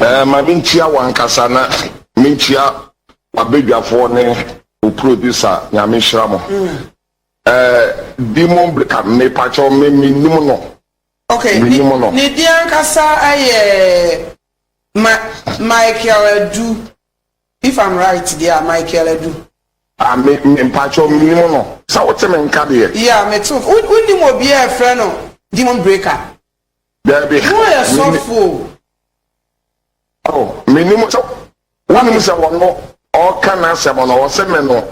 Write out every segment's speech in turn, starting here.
Ɛɛ, ma menkyia w'ankasa na menkyia w'abadwafoɔ ne wo producer, Nyame nhyira mo. Ɛɛ, Demon Breaker, mepakyɛw me menim no. Okay, menim no. Ne din ankasa yɛ Michael Adu, if I'm right deɛ a, Michael Adu. Ah, me, me mpakyɛw menim no. Sɛ wote me nka deɛ. Yeah, mete wo. Wonim obiara a ɛfrɛ no Demon Breaker? Dabi. Wo yɛ sɔfo o. Oh, menim sɛ wonim sɛ ɔno ɔka n'asɛm no ɔse me no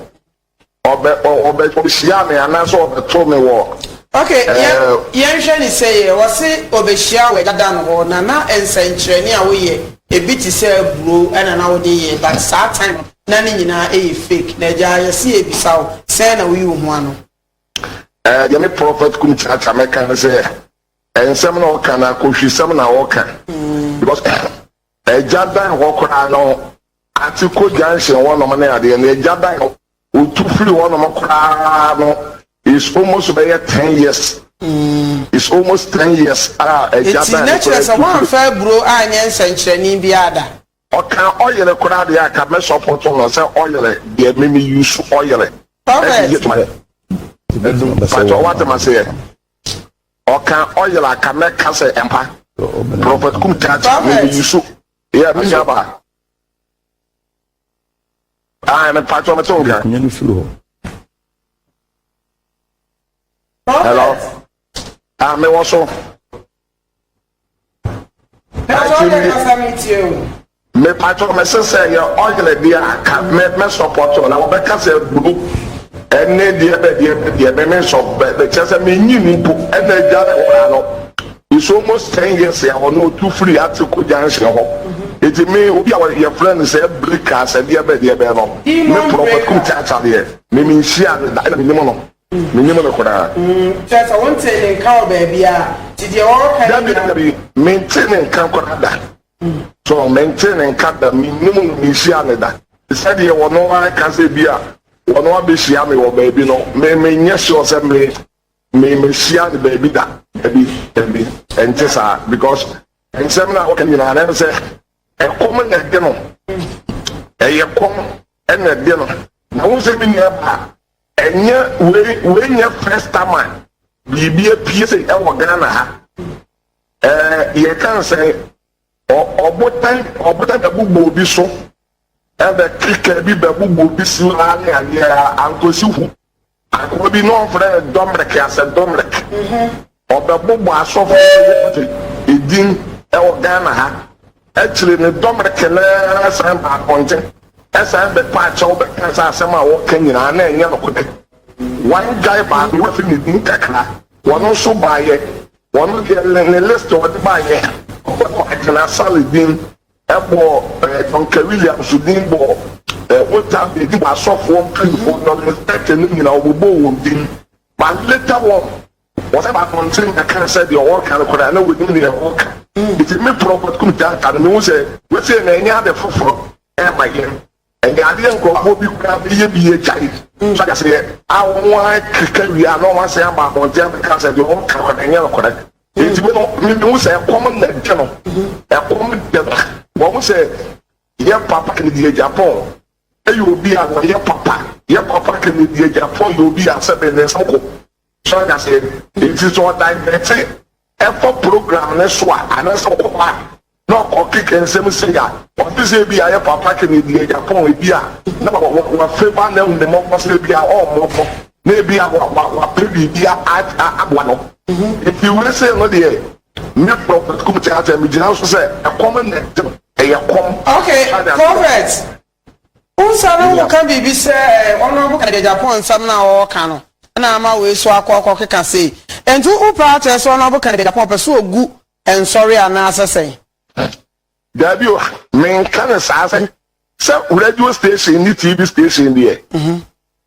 ɔbɛ ɔbɛ ɔbɛhyia me anaasɛ ɔbɛto me wɔ. Okay, yɛn eh, yɛnhwɛ ne sɛ yɛ ɔse ɔbɛhyia wɔ dada no hɔ na na nsɛnkyerɛnne a woyɛ ebi te sɛ aburo ɛna na wode yɛ but saa time no na ne nyinaa ɛyɛ fake na agyaa yɛse yɛbisa wo sɛn na woyi wo ho ano. Eh, yɛne Prophet Kum Chacha mɛka sɛ nsɛm na ɔka na kohwisɛm na ɔka because ɛgya dan hɔ koraa no ate kɔ junction wɔnom ne adeɛ no ɛgya dan hɔ otu firi wɔnom koraa no is almost bɛyɛ ten years mm. is almost ten years a ɛgya dan hɔ koraa tu firi. ɛti na kyerɛ sɛ wɔn afɛ buro anyɛ nsɛnkyerɛnne biara da. Ɔkaa ɔyere koraa deɛ anka mɛ sɔpɔto no sɛ ɔyere deɛ me me use ɔyere ɛde yɛ dwuma yɛ ɛnum pakyɛw wate maseɛ ɔkaa ɔyere a ka mɛ ka sɛ ɛmpa prophet kum kaa kyi me me use yɛ me nua baa ae me pakyɛw me te wo nka. Hello ah me wɔ so. mepatɔ mese sɛ yɛ ɔyere deɛ a ka mɛsɔpɔtɔ na wɔbɛka sɛ buru ɛne deɛ bɛdeɛ bɛdeɛ memesɔ bɛkyɛ sɛ menyi no mpo ɛna agya ne hora no it's almost ten years a ɔno ɔtu firi atiko junction hɔ ɛti mhm. me obi a yɛfrɛ no sɛ brika sɛ deɛ bɛdeɛ bɛɛ no me prɔkɔtum tata deɛ memenhyia no da ɛna menim no Minnim no koraa. Kyerɛ sɛ, wontee ne nka wɔ baabiara, nti deɛ wɔreka no nyinaa. Dabi, dabi, mentee ne nka koraa da. So, mentee ne nka da, mennim no, menhyiaa no da. Sɛdeɛ ɔno ara ka sɛ ebia ɔno abɛhyia me wɔ baabi no, me, menyɛ sure sɛ me, me, mahyiaa no baabi da. Dabi, dabi, ɛnte saa, because nsɛm no a ɔka nyinaa, na ɛne sɛ ɛkɔm na ɛde no. Ɛyɛ kɔm na ɛde no. Na wohu sɛ me nuabaa, Ɛnyɛ wei wei nyɛ first time a biribi apue se ɛwɔ Ghana ha. Ɛɛ yɛka nsɛ ɔbotan ɔbotan bɛbobɔ obi so ɛbɛ keka bi bɛbobɔ obi si hɔ ara ne adeɛ ankosi hu. Akoa bi na ɔfrɛ no dɔmrɛk asɛ dɔmrɛk. Ɔbɛbobɔ asɔfo sɛ wɔgye edin wɔ Ghana ha. Akyire no, dɔm reke no ara san ba apɔnten, san bɛpa akyɛw bɛka sɛ asɛm a wɔreka nyinaa na ɛnyɛ nokorɛ. One guy baa bɛ hɔ fi ne din kakra, ɔno nso baeɛ, ɔno deɛ ne ne list a ɔde baeɛ, ɔbɛkɔ akena Sally din bɔɔ eh, Duncan Williams din bɔɔ eh, Otam Bedi bɔ asɔfoɔ mpanimfoɔ, Doris Burke no nyinaa ɔbobɔɔ wɔn din, but later on Wɔsan baa abɔnten bɛkaa sɛ deɛ ɔreka no koraa na wɔnim deɛ ɔreka. Enti me Prɔfɛt Kum Janta no mehu sɛ wesei no ɛnyɛ ade foforɔ ɛma yɛn. Ɛnyɛ adeɛ nkorɔfoɔ bi koraa bɛyɛ bi agyae. So ate aseɛ? A wɔn akeka wie a na wɔn asan aba abɔnten abɛka sɛ deɛ ɔreka no ɛnyɛ nokorɛ. Enti me no me mehu sɛ ɛkɔm na ɛde no. Ɛkɔm de ba. Wahu sɛ yɛ Papa Kennedy Agyapong yɛ obi a ɔyɛ papa. Yɛ Papa Kennedy Agyapong yɛ obi a sɛbe ne nsam ko. So ate aseɛ? Nti sɛ ɔdivɛte ɛkɔ program no so a, anaasɛ ɔwɔ hɔ a na ɔkeka nsɛm sei a, ɔnte sɛ ebi a yɛ Papa Kennedy yɛ Japan ebi a na wafeva no ahu ne mmɔbɔ so ebi a ɔmmɔbɔ na ebi a wapɛ biribi aboa no. Nti wei sei no deɛ me Prophet Kumte Atta megyina so sɛ ɛkɔm na ɛte no, ɛyɛ kɔm. Okay, Prophet, Wo nsa no ho ka biribi sɛ Honourable Kennedy Agyapong nsɛm no a ɔreka no na ama wei so akɔ akɔkeka sei. Enti wo pɛ ara kyerɛ sɛ Honourable Kennedy Agyapong ɔpɛ sɛ ɔgu nsɔre anaasɛ sɛn? Daabi o, menka no saa sɛ sɛ radio station ne TV station deɛ,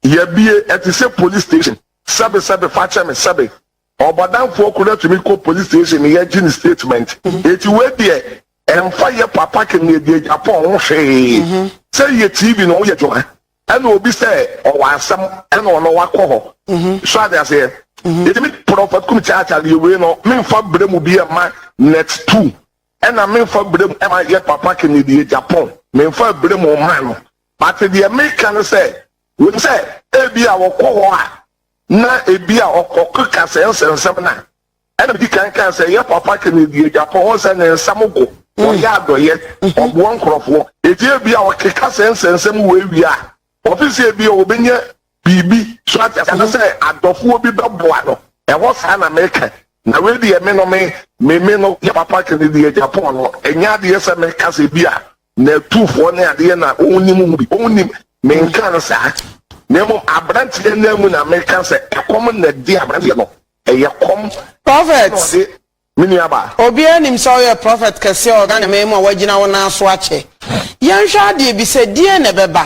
yɛabue, ɛte sɛ police station. Sɛbe sɛbe, fa kyɛ me, sɛbe. Ɔbɔdamfoɔ koro atumi kɔ police station ne yɛgye ne statement. Eti wei deɛ ɛmfa yɛ papa kɛmiɛdiɛ Japan ho hwee. Sɛ yɛ TV no woyɛ dwuma ɛna obi sɛ ɔwɔ asɛm ɛna ɔno wakɔ hɔ. So ate aseɛ? Eti me Prophet Kum Kyaakyaa deɛ wei no menfa brɛ mu bi ɛma Net Two ɛna menfa brɛ mu ɛma yɛ papa kɛmiɛdiɛ Japan. Menfa brɛ mu mma no. But deɛ meka ne sɛ, wonim sɛ ebia ɔkɔ hɔ a na ebia ɔkɔkeka sɛ nsɛnsɛm no a, ɛna medi kan kaa sɛ yɛ papa Kennedy Agyapong, wohu sɛ ne nsɛm go, ɔyɛ adɔyɛ, ɔboa nkurɔfoɔ, enti ebia ɔkeka sɛ nsɛnsɛm wei wie a, ɔfe sɛ ebia ɔbɛnya biribi, so ate aseɛ, anasɛ adɔfoɔ bi bɛboa no, ɛhɔ saa na meka, na wei deɛ me no me, me no yɛ papa Kennedy Agyapong no, ɛnyɛ adeɛ sɛ meka sɛ ebia Na atufoɔ ne adeɛ na wɔn nim ho bi wɔn nim menka no saa na mmom aberanteɛ no mu na meka sɛ ɛkɔm na ɛde aberanteɛ no ɛyɛ kɔm prophet na ɔde me nuaba. obiara nim sɛ woyɛ prophet kɛseɛ wɔ Ghana man mu a woagyina wo nan so akyɛ yɛnhwɛ adeɛ bi sɛ deɛn na ɛbɛba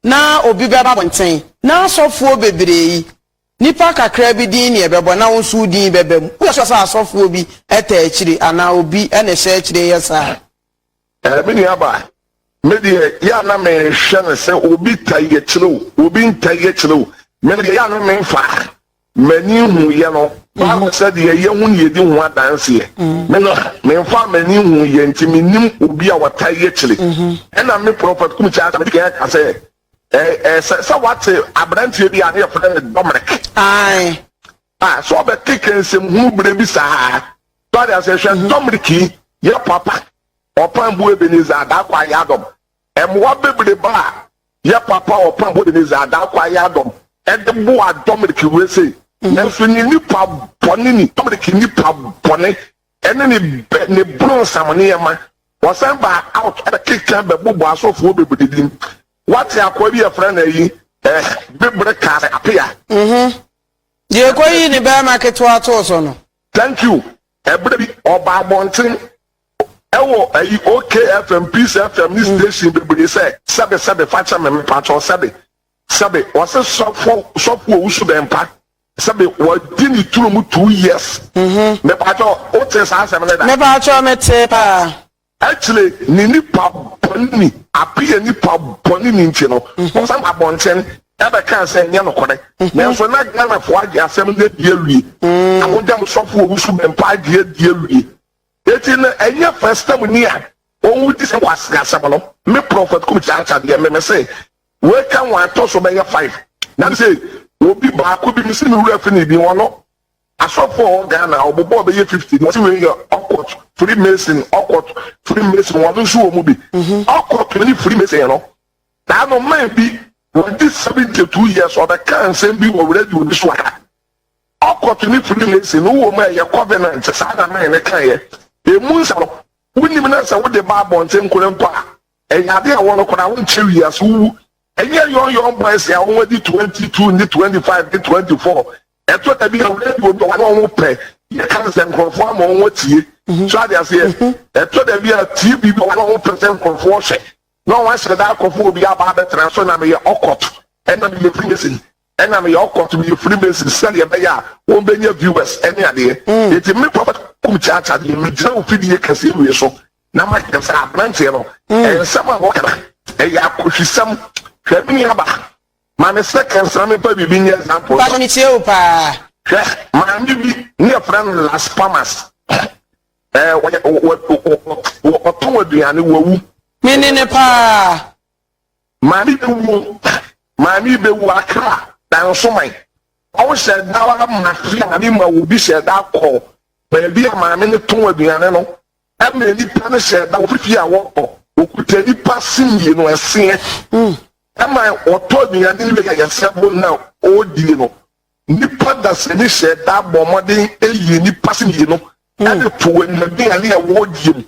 na obi bɛba abɔnten na asɔfoɔ bebree yi nnipa kakra bi din na ɛbɛbɔ na wo nso wo din bɛba mu woyɛ sure sɛ asɔfoɔ bi taa akyire anaa obi na ɛhyɛ akyire yɛ saa Ɛɛ me nua ba, me deɛ yɛ a na mehwɛ no sɛ obi tae akyire o, obi ntae akyire o, me deɛ yɛ a na memfa m'ani nhuiɛ no. Bible sɛ deɛ yɛ ho na yɛdi ho adanseɛ. Me no, memfaa m'ani nhuiɛ nti mennim obi a ɔtae akyire. Ɛnna me Prɔfɛt Kum Kyasa medi kan aka sɛ, Ɛɛ, ɛɛ, sɛ, sɛ woate aberanteɛ bi a na yɛfrɛ no Dominic. Ae. A sɛ ɔbɛte kɛ nsɛm hunu berɛ bi saa a. So ate aseɛ? Hwɛ dɔ mmereki yɛ papa. Ɔpan bu Ebenezer Adah Kwae Adom Mmoa bebreba a yɛ papa Ɔpan bu Ebenezer Adah Kwae Adom Ɛde boa dɔ mmereki wei sei Nanso ne nipa bɔne ni dɔ mmereki nipa bɔne Ɛne ne bɛ ne bronsam nneɛma Ɔsan baa out ɛbɛkeka bɛbobɔ asɔfoɔ bebree din Wate akoa bi yɛfrɛ no ayi eh bibire kaa sɛ apea. Deɛ kɔyii ne barima ketewa too so no. Thank you. Ɛberɛ bi ɔba abɔnten ɛwɔ ayi OK FM, Peace FM ne station bebree sɛ sɛbe sɛbe fa kyɛ me mepakyɛw sɛbe sɛbe ɔse sɔfo sɔfo owusu bɛmpa sɛbe wɔdi ne turo mu two years mepakyɛw wote saa asɛm no da? Mepakyɛw mete paa. Akyire ne nnipa bɔne ni ape yɛ nnipa bɔne ni nti no wɔsan abɔnten bɛkaa sɛ ɛnyɛ nokorɛ nanso na Ghanafoɔ agye asɛm no adi awie na mogya nsɔfoɔ ɔwu so bɛmpa agye adi awie enti no ɛnyɛ first time ni a ɔwu di sɛ kwasea asɛm no me Prophet Kum Kyaakya deɛ me mese wei ka wɔatɔ so bɛyɛ five na mesɛ obi baako bi mese me wura fini bi wɔno Asɔfo a ɔwɔ Ghana a ɔbobɔ bɛyɛ fifty na ɔsi wei yɛ ɔkɔt free mason ɔkɔt free mason wɔn nso wɔ mu bi ɔkɔt ne free mason no na ano man bi wɔn di seventy two years ɔbɛka nsɛm bi wɔ radio bi so ha ɔkɔt ne free mason no wɔ mu a ɛyɛ covenant saa na man ne kan yɛ emu nsa no wonim na sɛ wode ba abɔnten nkora mpo a ɛyɛ ade a wɔn kora wɔn kyɛ wiase wowu ɛnyɛ yɔn yɔn boys a wɔn adi twenty two ne twenty five ne twenty four Ɛtɔ da bi a wo radio dɔ wɔn a wɔn pɛ yɛ kan sɛ nkurɔfoɔ ama wɔn atie. Mhm. So ade aseɛ. Mhm. Ɛtɔ da bi a TV dɔ wɔn a wɔn pɛ sɛ nkurɔfoɔ hwɛ. Na wɔn ahyɛ da akɔfo obi aba abɛtena so na meyɛ ɔkɔt. Ɛna meyɛ Freemason. Ɛna meyɛ ɔkɔt meyɛ Freemason sɛdeɛ ɛbɛyɛ a wɔn bɛnya viewers ɛne adeɛ. Mm. Eti me papa kum kyaakya deɛ megyina wo fidie kɛseɛ wie so na makyɛ sɛ aberanteɛ no mm. nsɛm a wɔkana ɛyɛ akɔhwisɛm hwɛ me aba Ma me second sa me pa bibi nye example. Mpacho me tie wo paa. Hwɛ maame bi ne yɛfrɛ no Las Palmas ɛɛ wɔyɛ wɔ ɔtɔn aduane wawu. Me ne ne paa. Maame bi wu maame bi wu akra dansoman ɔwɔ hyɛ da wa ma fi maame ma wo bi hyɛ da kɔ baabi a maame ne tɔn aduane no Ɛna nnipa no hyɛɛ da wɔn fie a wɔkɔ, wɔkuta nnipa se mmienu ɛseɛ. Ɛma wɔtɔ aduane no wie a yɛsɛ bo na wɔdie no. Nnipa dasani hyɛɛ da bɔɔ mmɔden yii nnipa se mmienu de too anuaduane a wɔdie mu.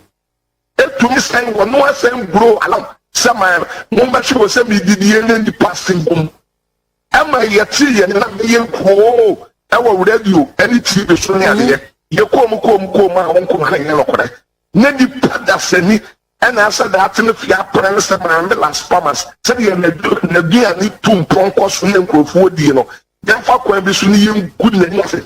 Ɛtumi sɛn wɔn no asɛn guroo alam sɛ ma mommɛhwe wɔ sɛ medidie ne nnipa se bom. ɛma yɛte yɛn na bɛyɛ nkoo wɔ radio ne TV so ne mhm. adeɛ. Yɛkoom koom koom a wɔn nkoma na yɛ nokorɛ. Ne nipa dasani ɛna asɛ daate no fie apɛrɛ no sɛ maame Las Palmas sɛdeɛ n'aduane tu mpɔnkɔ so yɛ nkurɔfoɔ die no yɛmfa kwan bi so ne yɛngu n'ani ase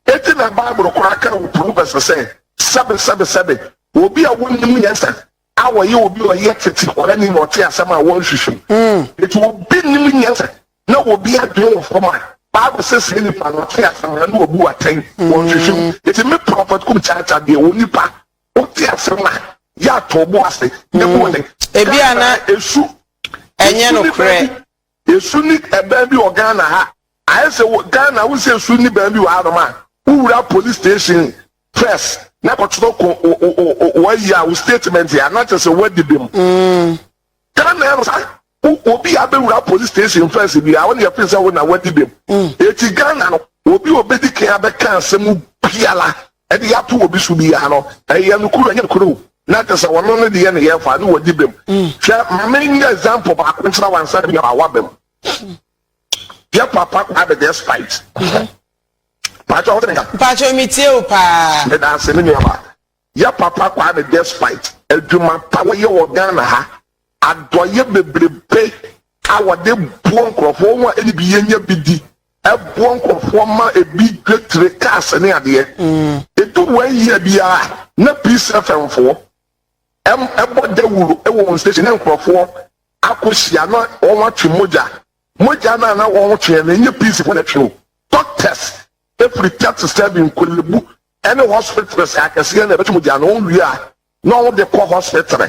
ɛti na bible koraa ka wɔ proverbs sɛ sɛbe sɛbe sɛbe obi a wonim yɛn sɛ a wɔyɛ obi a ɔyɛ tete ɔrani na ɔte asɛm a wɔnhwehwɛ mu. Enti obi nnim nyansa na obi adwene wɔ fam a, Bible se saa nipa no ɔte asɛm na wabu atɛn, wɔnhwehwɛ mu. Enti me Prɔfɛt Kum Kyaakyaa deɛ, onipa wote asɛm a, yɛ atɔ wo bo ase na bu atɛn. Ebia na ɛnyɛ nokorɛ. Esu ni dan bi wɔ Ghana ha. Ayɛ sɛ wɔ Ghana wo sɛ esu ni dan bi wɔ ha nom a, wo wura police station first na kɔ kyerɛ ko wayi a wo statement a na kyɛ sɛ wadi bem. Ghana ha no sa wo obi a bɛ wura police station first bi a wo ne yɛ fin sɛ wo na wadi bem. Eti Ghana no obi obedi kan a bɛ ka asɛm biala de ato obi so biara no, ɛyɛ nokoro ɛnyɛ nokoro o, na kyerɛ sɛ ɔno no deɛ ne yɛ fa ne wɔdi bem. Mm. Hwɛ ma menyɛ example baako nkyerɛ wansa ne yɛ awa bem. Yɛ papa kwa bɛ deɛ spite. Mm-hmm. Pàtó ọ̀hún nìkan. Pàtó mi tiẹ̀ o paa. Meda ase mi nìyẹn ma. Yẹ papa Kwame Despite adwuma pa wɔyɛ wɔ Ghana ha adɔyɛ bebrebe a wɔde buo nkurɔfoɔ wɔn a ɛde bi yɛnyɛ bi di Ɛboɔ nkorɔfoɔ ma ɛbi dwa tire, cars ne adeɛ. Ɛdu one year biara na Peace FM foɔ bɔ dawuro wɔ wɔn station na nkorɔfoɔ akɔ hyia na wɔn atwe mogya. Mogya no a na wɔn tweɛ no ɛnyɛ Peace foɔ na ɛtwe o. Doctors firi thirty seven Nkolebu ne hospitals akɛseɛ na ɛbɛtwe mogya no wɔn wie a na wɔn de kɔ hospital.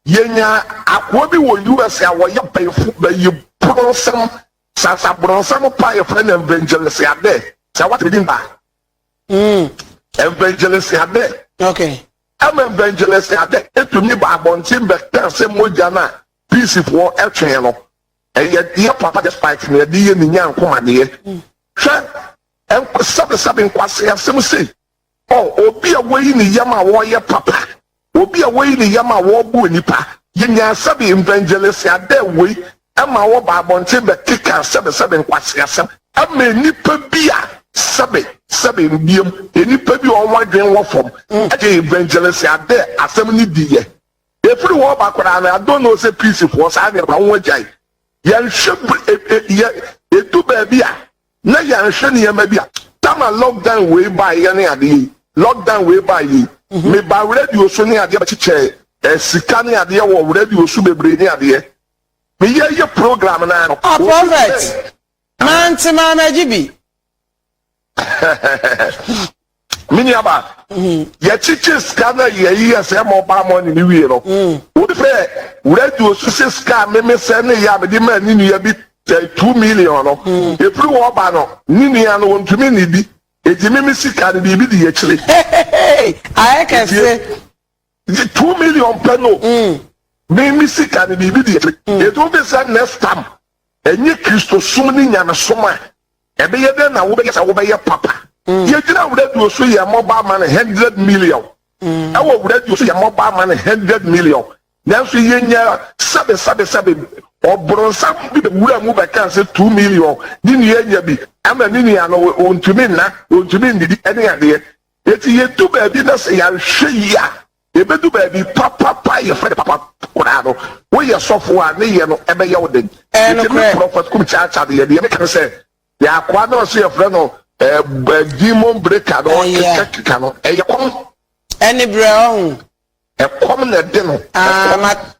Yɛnyaa akoa bi wɔ US a wɔyɛ bayifo, bayiboro nsɛm Sa sa brɔnsam pa yɛ fɛ no evangelist adɛ. Sɛ wate din ba. Mm. Evangelist adɛ. Okay. Ɛma evangelist adɛ etumi ba abɔnten bɛka sɛ mogya no a peacefoɔ ɛtwɛn no ɛyɛ yɛ papa despite nea ɛde yɛ ne nyankomadeɛ. Hwɛ ɛnk sɛbesɛbe nkwaseasɛm sei. O obi a woyi ne yam a ɔreyɛ papa, obi a woyi ne yam a ɔreboa nnipa. Yenyaa sɛbe evangelists a dɛ wei ma wɔba abɔnten bɛkeka sɛbesɛbe nkwaseasɛm ma nnipa bi a sɛbe sɛbe mbiem nnipa bi a wɔn adwene wɔ fam gye evangelists a dɛ asɛm no di yɛ. Efiri hɔ ba koraa no, I don't know sɛ peacefoɔ saa nneɛma wɔn agyae. Yɛnhwɛ br e e yɛ edu baabi a. na yɛanhwɛ nneɛma bi a tam a lockdown wei baeɛ ne adeɛ yi lockdown wei baeɛ yi mhm. meba radio so ne adeɛ bɛkyekyɛɛ eh, sika ne adeɛ wɔ radio so bebree ne adeɛ meyɛ yɛ program no ano ah, prophet mante maa no agye bi Me nuaba, yɛkyekyee sika no a yɛyi yɛ sɛ ɛma ɔbaa mɔne no wie no, wohu sɛ radio so hyɛ sika a memesɛ ne yɛ a mede maa ne nua bi bɛn two million no. Ɛfiri hɔ ba no, ne nua no, ɔntumi nnidi. Enti me me sika no, biribi di akyire. Hehehe! Ayɛ kɛse! Gye two million pɛ no. Me me sika no biribi di akyire. Yɛde wo bɛsa next time. Ɛnyɛ Kristosom ne nyamesom a. Ɛbɛyɛ dɛn na wobɛyɛ sɛ wobɛyɛ papa. Yɛgyina wo radio so yɛ mobile money hundred million. Ɛwɔ wo radio so yɛ mobile money hundred million. Nanso yɛnya sɛbe sɛbe sɛbe ɔbronsam bi bɛwura mu bɛka sɛ two million ne nua anya bi ama ne nua no ɔntumi nna, ɔntumi nnidi ne adeɛ. Enti yedu baabi na sɛ yɛanhwɛ yie a, yebedu baabi papapa a yɛfrɛ no papa koraa no. Woyɛ sɔfo a, ne yɛ no bɛyɛ wo den. Enti me Prɔfɛt Kum Kyaakyaa deɛ, deɛ meka ne sɛ, deɛ akoa no a ɔse yɛfrɛ no Demon Breaker no keka no, ɛyɛ kɔm. Ɛne berɛ, ɔho. Ɛkɔm na ɛde no. Ɛkɔm.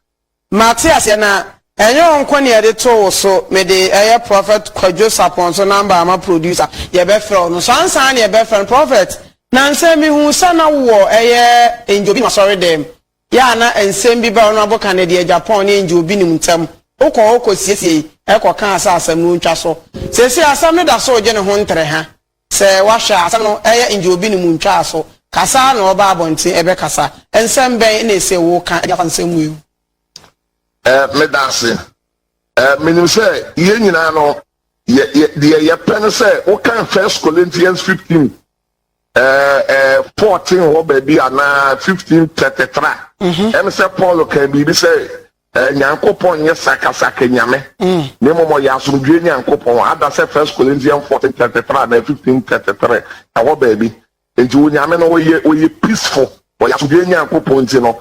Mate aseɛ na ɛnyɛ wo nko na yɛde too wo so mede ɛyɛ prophet kwadwo sapɔn so number ama producer yɛbɛfrɛ wo no so ansa na yɛbɛfrɛ no prophet nansɛ mehuu sɛ na wowɔ ɛyɛ angel bi no asɔre dɛm yɛ a na nsɛm bi ba ɔno aboka no deɛ Japan ne angel bi nim ntɛm wokɔ hɔ kɔ siesiei ɛkɔ kaa sɛ asɛm no ntwa so seesei asɛm no da so regye ne ho ntere ha Sɛ woahwɛ a, asɛm no, ɛyɛ ngye obi ne mu ntwaa so. Kasa ara na ɔba abɔnten rebɛkasa. Nsɛm bɛn na ese woka de afa nsɛm mu yi ho? Eh, meda ase. Eh, minim sɛ yɛn nyinaa no, yɛ, yɛ, deɛ yɛpɛ ne sɛ wokan First Corinthians 15, eh, eh, 14 hɔ baabi anaa 15:33. Ɛne sɛ Paul kaa biribi sɛ Nyankopɔn nnyɛ sakasaka Nyame, na mmom ɔyɛ asomdwoe Nyankopɔn. Adasɛ First Corinthian fourteen thirty three anaa fifteen thirty three, ɛhɔ baabi. Enti Onyame no ɔyɛ ɔyɛ peaceful, ɔyɛ asomdwoe Nyankopɔn nti no,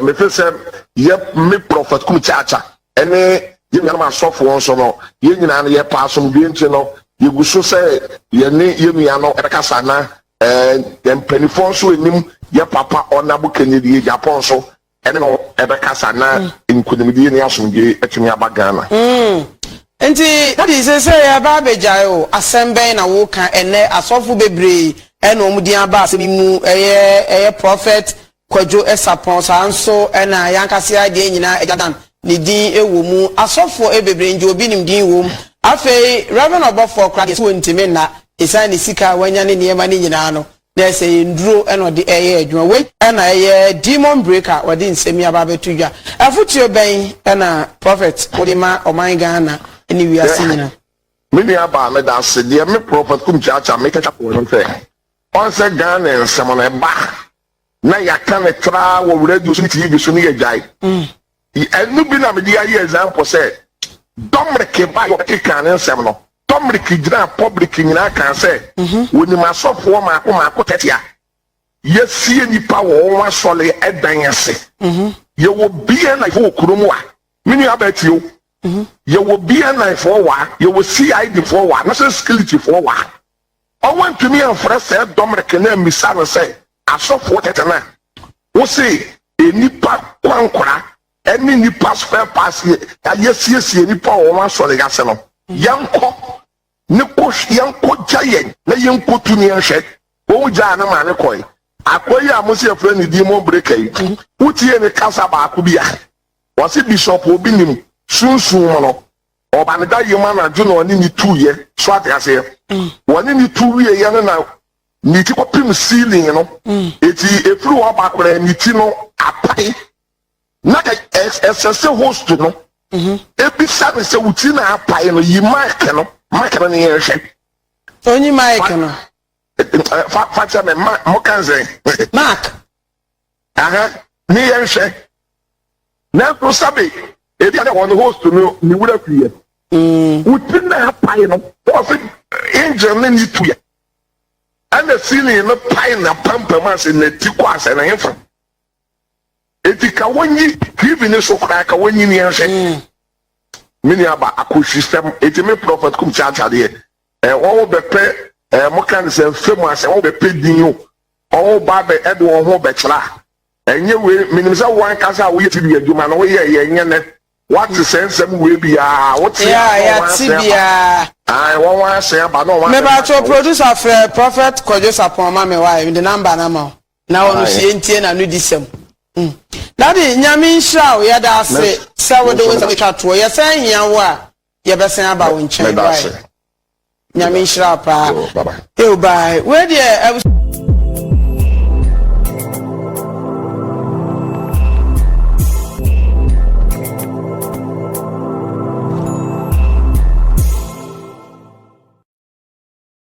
mefe sɛ yɛ me Prɔfɛt Kum Kyakya ne yɛn nuanom asɔfoɔ nso no, yɛn nyinaa no yɛpɛ asomdwoe nti no yɛgu so sɛ yɛne yɛn nua no bɛkasa na yɛn mpaninfoɔ nso nim yɛn papa Ɔnabo Kennedy Agyapong nso ɛne no bɛkasa na nkunimdie ne asomdwoe atumi aba Ghana. Mm. Nti daddy sesei ɛba abɛgyae o, asɛm bɛn na woka ɛnɛ asɔfo bebree ɛna wɔn din aba asɛm yi mu ɛyɛ ɛyɛ prophet Kwadwo Sapɔn saa nso ɛna yankase adeɛ nyinaa ɛgya dan ne din ɛwɔ mu asɔfo ɛbebree ngye obi nim din wɔ mu afei Reverend Ɔbɔfoɔ koraa deɛ so wɔntimi nna ɛsan ne sika a wanya ne nneɛma ne nyinaa no Dɛ sɛ yɛ nduro na ɔde reyɛ adwuma. Wei na ɛyɛ demon breaker a ɔde nsɛm yi aba abɛto dwa. Afotuo bɛn na Prophet wode ma ɔman Ghana ne wiase nyina? Me nua baa meda ase. Deɛ me Prophet Kumkye Akyah meka kyerɛ wo ne sɛ, ɔnsɛ Ghana nsɛm no ɛba na yɛaka no traa wɔ radio so ne TV so ne yɛagyae. Ɛno bi na mede ayɛ example sɛ Domric ba yɛ ɔte kaa ne nsɛm no Domric gyinaa public nyinaa kaa sɛ wɔnim asɔfoɔ maako maako tɛtea yɛasie nipa wɔ wɔn asɔre ɛdan ase yɛwɔ bia na yɛwɔ kuro mu a me nua baa tie o yɛwɔ bia na yɛfoɔ wɔ a yɛwɔ CID foɔ wɔ a national security foɔ wɔ a Wɔantumi amfrɛ Sir Dominic na ammisa no sɛ, Asɔfoɔ tete no a wose nnipa kwankora ne nnipa spare parts a yɛasiesie nnipa wɔ wɔn asɔre ase no, yɛnkɔ ne kɔ yɛnkɔgya yɛn na yɛnkɔtu ne nhwɛ? Wɔn gyaa no maa no kɔe. Akoa yi a mose yɛfrɛ no Edimon Breaker yi, wotiee ne kasa baako bi a ɔse Bishop Obinim sunsum mu no, Ɔba no da yam anadwo na ɔne ne tu yɛ. So ate aseɛ? Wɔne ne tu wie yɛ no na ne ti kɔpem ceiling no. Eti efiri hɔ ba koraa ne ti no apae. Na ka ɛsɛ sɛ host no ebisa no sɛ wo ti na apae no yi mic no mic no ne yɛn hwɛ. Onyi mic no. Fa fa kyɛ me ma mo kan sɛ. Mark. aha ne yɛn hwɛ nanso sabe ebi a na wɔn host no ne wura fi yɛ mm. wuti na apae no wɔsi angel ne ne tu yɛ ɛna sini no pae na pampam ase na ti kɔ ase na hefa eti ka wɔnyi tv ne so koraa ka wɔnyi ne yɛn hwɛ mm. me ni aba akosisɛm eti me prɔfɛt kum kyaakyadeɛ ɛɛ wɔn bɛpɛ ɛɛ mo kan sɛ fɛm asɛ wɔn bɛpɛ din o. Ɔwo ba de ɛde wo ho bɛtra. Ɛnyɛ wei, menim sɛ wo ankasa a woyɛ tibea adwuma no woyɛɛ yɛn nyɛ nnɛ. Woate sɛ nsɛm wei bi a, wote a na ɔwɔ asen aba. Ae, wɔn asen aba na wɔn asen aba nka wo. Producer frɛ Prophet Kwadwo Sapon ma me wae mede number no ama wo na wɔ no sie ntie na no di sɛm. Daddy Nyame nhyira wo yɛda ase sɛ wode wo nsɛm twa toɔ yɛsan hia wo a yɛbɛsan aba wo nkyɛn wae nyame nhyira paa eo bae wei deɛ